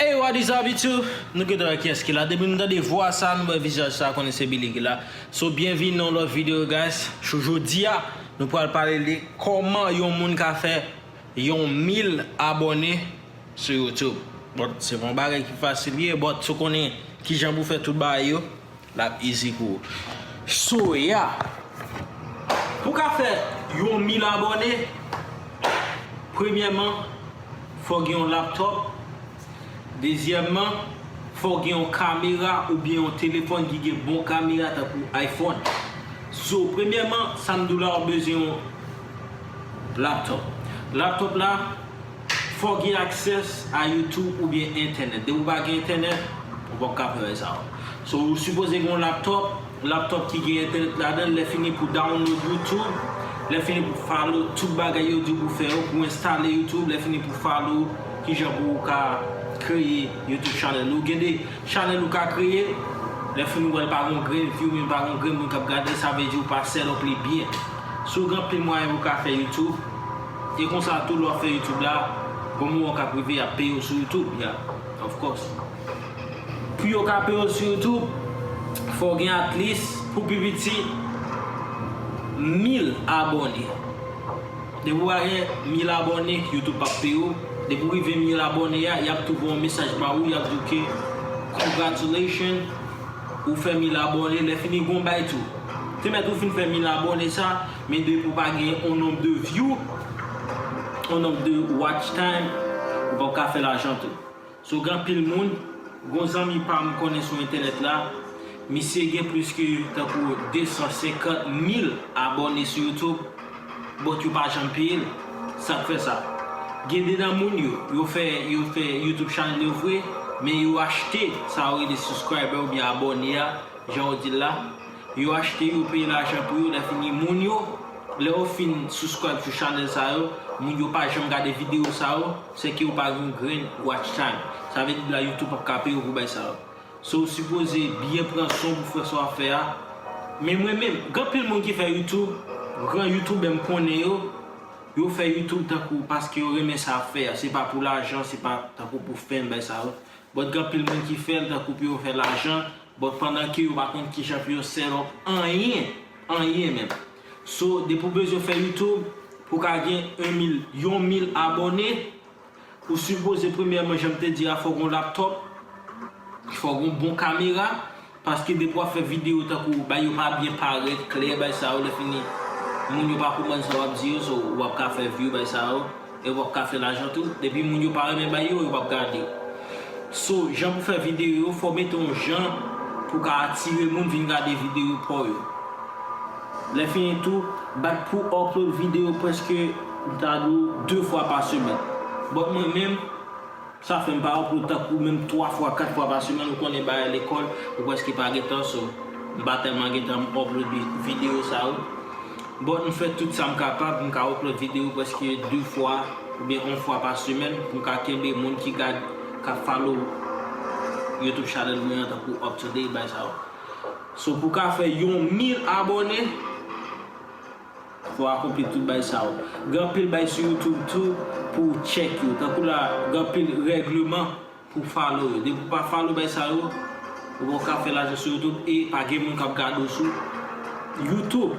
Hey what is up YouTube, nou geta wè kiyès ki la, depi nou tande vwa sa, nou wè vizaj sa konnen se Billy ki la So byenvini nan yon lòt video guys, cho jodia nou pral pale de kòman yon moun ka fè yon mil abòne sou YouTube Bon se pa yon bagay ki fasil vre but si w konnen kijan pou fè tout bagay yo Lap easy pou ou. Soya. Pou ka fè yon mil abòne, premyèman fò gen yon laptop, dezyèmman fò gen yon kamera oubyen yon telefòn ki gen bon kamera tankou iPhone. So premyèman sa m di w la wap bezwen yon laptop. Laptop la. Fò w gen access a YouTube oubyen entènèt. Depi w pa gen entènèt, ou pap ka fè bagay sa yo. So ou sipoze gen yon laptop, laptop ki gen entènèt ladan l, lèfini pou download YouTube, lèfini pou follow tout bagay yo di w pou fè yo, pou enstale YouTube, lèfini pou follow kijan pou ou ka kreye YouTube channel ou. Gen de channel ou ka kreye, lèfini ou wè l pa gen yon grenn view oubyen pa gen yon grenn moun k ap gade l, sa vle di ou pa set up li byen. So gen anpil mwayen pou w ka fè YouTube. E konsa tou lè wap fè youtube la gon moman kap rive yap peyew sou youtube yeah of course. Pou yo ka peyew sou youtube fòw gen at least pou pi piti 1000 abòne. Depiw pa gen 1000 abòne youtube pap peyew, depiw rive 1000 abòne a yap tou voye yon mesaj ba ou yap diw ke congratulations ou fè 1000 abòne lè fini gon bay tou. Te mèt ou fin fè 1000 abòne sa. Men depiw pa gen yon nonb de view, yon nonb de watch time, ou pap ka fè lajan tou. So gen anpil moun, gon zanmi pam m konnen sou entènèt la, misye gen plis ke tankou 250 mil abòne sou youtube, but yo pa janm peyel. Sak fè sa? Gen de nan moun yo, yo fè yo fè youtube channel yo vre, men yo achte sa yo rele subscriber oubyen abòne a, jan yo dil la, Yo achte yo peye lajan pou yo lèfini moun yo lè yo fin suscribe sou chanèl sa yo moun yo pa janm gade video sa yo sèke yo pa gen yon grenn watch time sa vle di la youtube pap ka peye yo pou bay sa yo so ou sipoze byen pran swen w pou fè sa wap fè a men mwen menm gen anpil moun ki fè youtube gran youtubè m konnen yo yo fè youtube tankou paske yo renmen sa yap fè a se pa pou lajan se pa tankou pou fame bay sa yo but gen anpil moun ki fèl tankou pou yo fè lajan. Bon pandan ke yo pa konn kijan pou yo set up anyen, anyen menm. So depi ou bezwen fè YouTube pou ka gen 1 mil, yon mil abòne, ou sipoze premyèman janm te di a fò gon laptop, fò gon bon kamera, paske depi wap fè video tankou bay yo pa byen parèt klè bay sa yo lè fini moun yo pa konprann sa wap di yo so wap ka fè view bay sa yo. E wap ka fè lajan tou. Depi moun yo pa renmen bay yo, yo pap gade. So jan pou fè video yo fò mete yon jan pou ka atire moun vin gade video paw yo. Lè fini tou, bat pou upload video preske m ta di w 2 fwa pa semèn. But mwen menm. Sa fèm pa wè poul tankou menm 3 fwa 4 fwa pa semèn ou konnen bagay lekòl ou preske pa gen tan so m pa tèlman gen tan m upload video sa yo but m fè tout sam kapab m ka upload video preske 2 fwa oubyen yon fwa pa semèn pou m ka kenbe moun ki gad kap follow youtube channel mwen an tankou up to date bay sa yo so pou ka fè yon mil abòne. Ou akonpli tout bay sa yo. Gen anpil bay sou youtube tou pou ou check yo. Tankou la gen anpil regleman pou follow yo. Depi ou pa follow bay sa yo, ou poko ka fè lajan sou youtube e pa gen moun kap gade w sou youtube.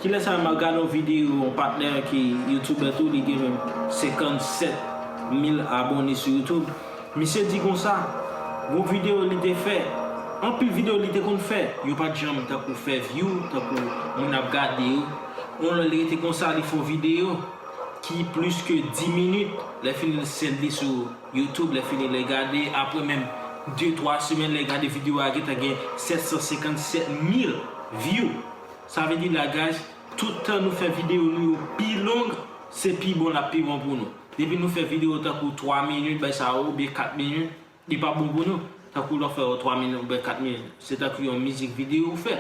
Kilè sa a map gade yon video yon patnè ki youtuber tou li gen menm 57 mil abone sou youtube. Misye di konsa, Bon video li te fè, anpil video li te konn fè, yo pat janm tankou fè view, tankou moun ap gade yo. On lè li rete konsa li fon video ki plis ke 10 minit, lè fini li sèl li sou YouTube, lè fini lè gade, aprè menm 2 3 semèn lè gade video a gentan gen 757 mil view. Sa vle di la guys, tout tan nou fè video nou yo pi long, se pi bon lap pi bon pou nou. Depi nou fè video tankou 3 minit bay sa yo oubyen 4 minit li pa bon pou nou, tankou lè w fè yon 3 minit oubyen 4 minit se tankou yon mizik video ou fè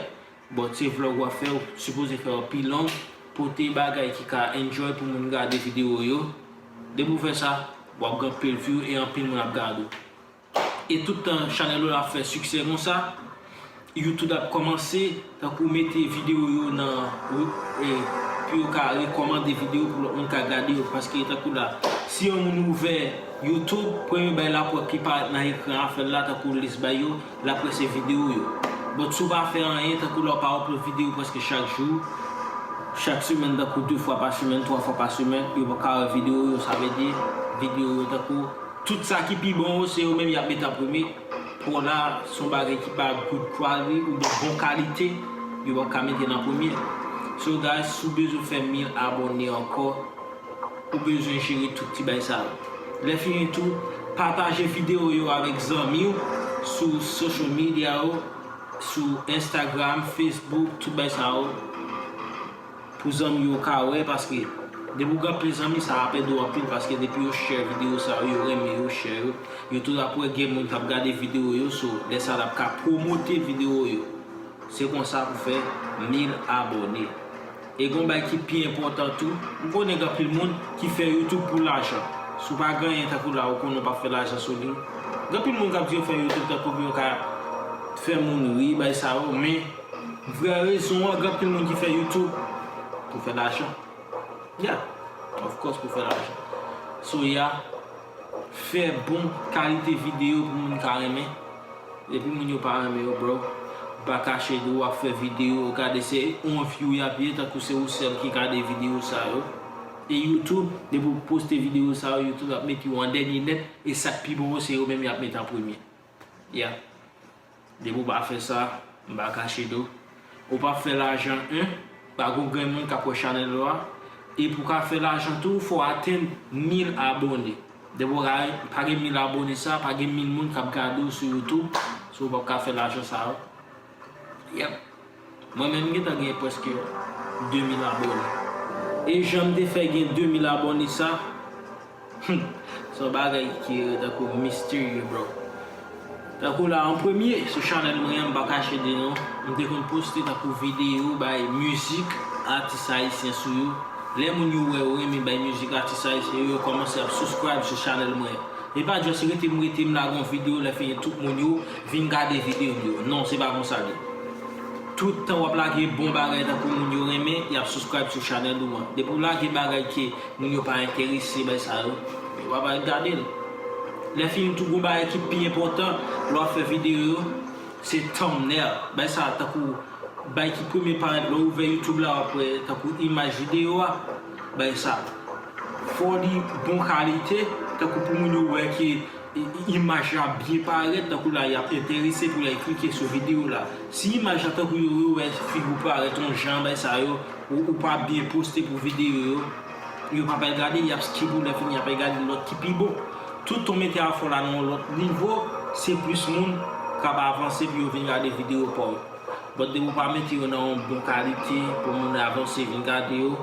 bon se vlog wap fè ou sipoze fè yo pi long pote bagay ki ka enjoy pou moun gade video yo depi w fè sa wap gen anpil view e anpil moun ap gade w. E tout tan chanèl ou la ap fè siksè konsa, YouTube ap kòmanse tankou mete videyo yo nan pou yo ka rekòmande videyo pou lòt moun ka gade yo paske tankou la si yon moun ouvè YouTube premye bagay lap wè ki parèt nan ekran afèl la tankou lis bay yo lap wè se videyo yo but si w pa fè anyen tankou la w pa upload videyo prèske chak jou chak semèn tankou 2 fwa pa semèn 3 fwa pa semèn yo paka wè videyo yo sa vle di videyo yo tankou Tout sa ki pi bon yo se yo menm yap met an premye, polar son bagay ki pa good quality ou byen bon kalite yo pap ka mete nan premye. So guys si w bezwen fè 1000 abòne ankò ou bezwen jere tout ti bay sa yo. Lè fini tou pataje video yo avèk zanmi w sou social media yo sou Instagram, Facebook tout bay sa yo. Pou zanmi yo ka wè paske depi ou gen anpil zanmi sa ap edew anpil paske depi yo share video sa yo yo renmen yo share yo yo tou ap wè gen moun kap gade video yo so lè sa lap ka promote video yo se konsa pou fè 1000 abòne e gon bagay ki pi enpòtan tou ou konnen gen anpil moun ki fè youtube pou lajan si ou pa ganyen tankou la ou konnen ou pap fè lajan sou li gen anpil moun kap di yo fè youtube tankou pou yo ka fè moun ri bay sa yo men. Vrè rezon an gen anpil moun ki fè youtube pou fè lajan yeah of course pou fè lajan so yeah fè bon kalite video pou moun ka renmen depi moun yo pa renmen yo bro pa kache di wap fè video yo gade se yon view yap ye tankou se ou sèl ki gade video sa yo e youtube depi ou poste video sa yo youtube ap met yo an dènye nèt e sak pi bon yo se yo menm yap met an premye yeah. Depi ou pa fè sa, m pa kache do. Ou pap fè lajan 1, pa gon grenn moun kap wè chanèl ou a, e pou ka fè lajan tou fò atenn 1000 abone. Depi ou pa gen 1000 abone sa, pa gen 1000 moun kap gade ou sou youtube, so ou pap ka fè lajan sa yo. Yep. Mwen menm m gentan gen preske 2000 abone. E janm te fè gen 2000 abone sa humm son bagay ki tankou misterye bro. Tankou la an premye sou chanèl mwen an m pa kache di nou m te konn poste tankou video bay mizik atis ayisyen sou yo lè moun yo wè yo renmen bay mizik atis ayisyen yo yo kòmanse ap subscribe sou chanèl mwen e pa just rete m rete m lage yon video lè fini tout moun yo Vin gade video m yo. Non se pa konsa li. Tout tan wap lage bon bagay tankou moun yo renmen yap subscribe sou channel ou an. Depi w lage bagay ke moun yo pa enterese bay sa yo, yo pa pral gade l. Lè fini tou gon bagay ki pi enpòtan lè wap fè video yo se thumbnail. Bay sa tankou bay ki premye parèt lè w ouvè youtube la wap wè tankou imaj video a. Bay sa. Fò li bon kalite tankou pou moun yo wè ke Imaj la ap byen parèt, tankou la y ap enterese pou lè y klike sou videyo la. Si imaj la tankou yo yo wè figi w parèt yon jan bay sa yo, ou ou pa byen poste pou videyo yo, yo pa pral gade l y ap skip ou lè fini y ap al gade lòt ki pi bon. Tout ton mete a fè w la nan yon lòt nivo, se plis moun k ap avanse pou yo vin gade videyo pa w. Bòt depi w pa mete yo nan yon bon kalite pou moun avanse vin gade yo,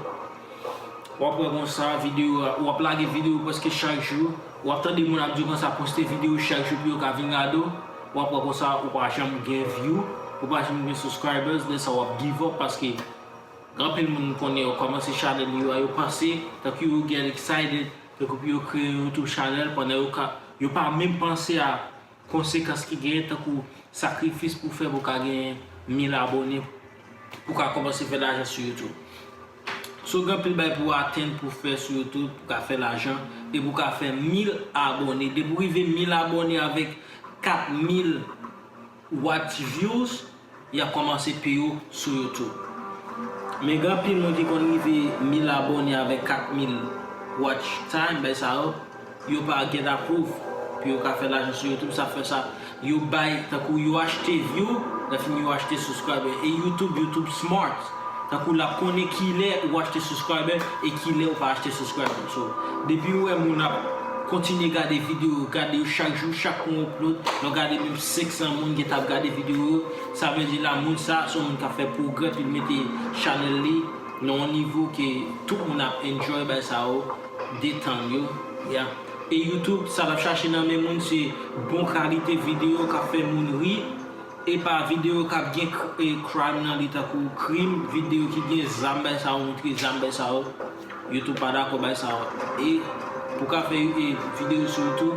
Wap wè konsa video wap lage video preske chak jou wap tande moun ap di konsa poste video chak jou pou yo ka vin gade w wap wè konsa ou pa janm gen view ou pa janm gen subscribers lè sa wap give up paske anpil moun konnen yo kòmanse chanèl yo a yo panse tankou yo get excited tankou pou yo kreye yon youtube chanèl pandan yo ka yo pa menm panse a Konsekans ki genyen tankou sakrifis pou fè pou ka gen 1000 abone pou ka kòmanse fè lajan sou youtube. So gen anpil bagay pou atenn pou fè sou youtube pou ka fè lajan e pou ka fè 1000 abone. Depi ou rive 1000 abone avèk 4000 watch views Yap komanse pu ou sou youtube. Men gen anpil moun ki konn rive 1000 abone avek 4000 watch time bay sa yo yo pa get approve pu yo ka fè lajan sou youtube sa fè sa yo bay tankou yo achte view lè fini yo achte subscriber e youtube youtube smart. Tankou lap konnen kilè ou achte subscriber e kilè ou pa achte subscriber so depiw wè moun ap Kontinye gade video yo gade yo chak jou chak fwa yon upload lè w gade menm 500 moun gentan ap gade video yo sa vle di la moun sa son moun kap fè progrè pi l mete channel li nan yon nivo ke tout moun ap enjoy bay sa yo detann yo ya e youtube sa lap chache nan men moun se bon kalite video kap fè moun ri. Epa video kap gen crime nan li tankou krim video ki gen zam bay sa yo moutre zam bay sa yo youtube pa dakò bay sa yo e pou ka fè video sou youtube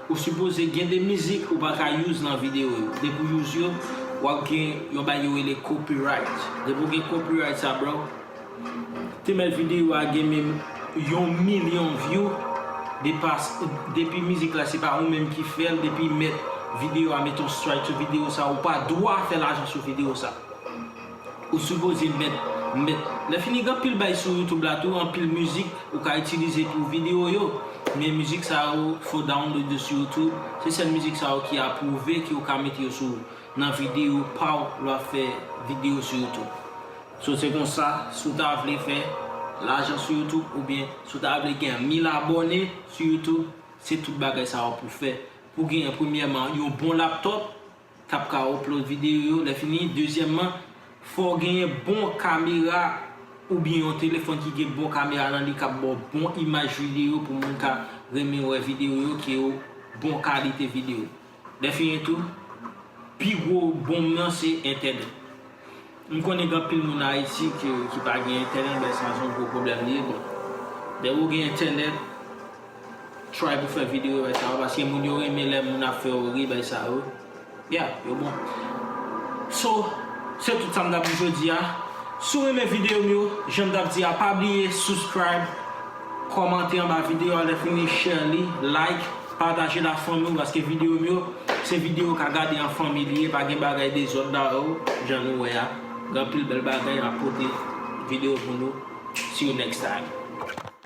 ou sipoze gen de mizik ou pa ka use nan video yo depi ou use yo wap gen yon bagay yo rele copyright depi ou gen copyright sa bro Femèl video a gen menm yon milyon view depas depi mizik la se pa ou menm ki fèl depi mèt video a met yon strike sou video sa ou pa dwa fè lajan sou video sa ou sipoze mèt mèt lè fini gen anpil bay sou youtube la tou anpil mizik ou ka itilize pou video yo men mizik sa yo fo download yo sou youtube se sèl mizik sa yo ki aprouve ki ou ka mete yo sou nan video paw lè wap fè video sou youtube So se konsa si w ta vle fè lajan sou youtube oubyen si w ta vle gen 1000 abòne sou youtube se tout bagay sa yo pou fè pou gen premyèman yon bon laptop kap ka upload video yo lè fini dezyèmman fò w gen bon kamera oubyen yon telefòn ki gen bon kamera nan li kap ba w bon imaj video pou moun ka renmen wè video yo ki yo bon kalite video. Dèfini tou, pi gwo bonm nan se entènèt. M konnen gen anpil moun Ayiti ki pa gen entènèt men sa se yon gwo pwoblèm li ye. Bon, dèyè ou gen entènèt, try pou fè videyo bay sa yo paske moun yo renmen lè moun ap fè ou ri bay sa yo. Yeah, yo bon. So, se tout sa m t ap di jodi a. Si w renmen videyo m yo, jan m t ap di a pa bliye subscribe. Kòmante anba video a lèfini share li like patajel a fanmiw paske videom yo se video ka gade an fanmi li ye pa gen bagay dezòd la oo jan nou wè a gen anpil bèl bagay map pote video pou nou see you next time.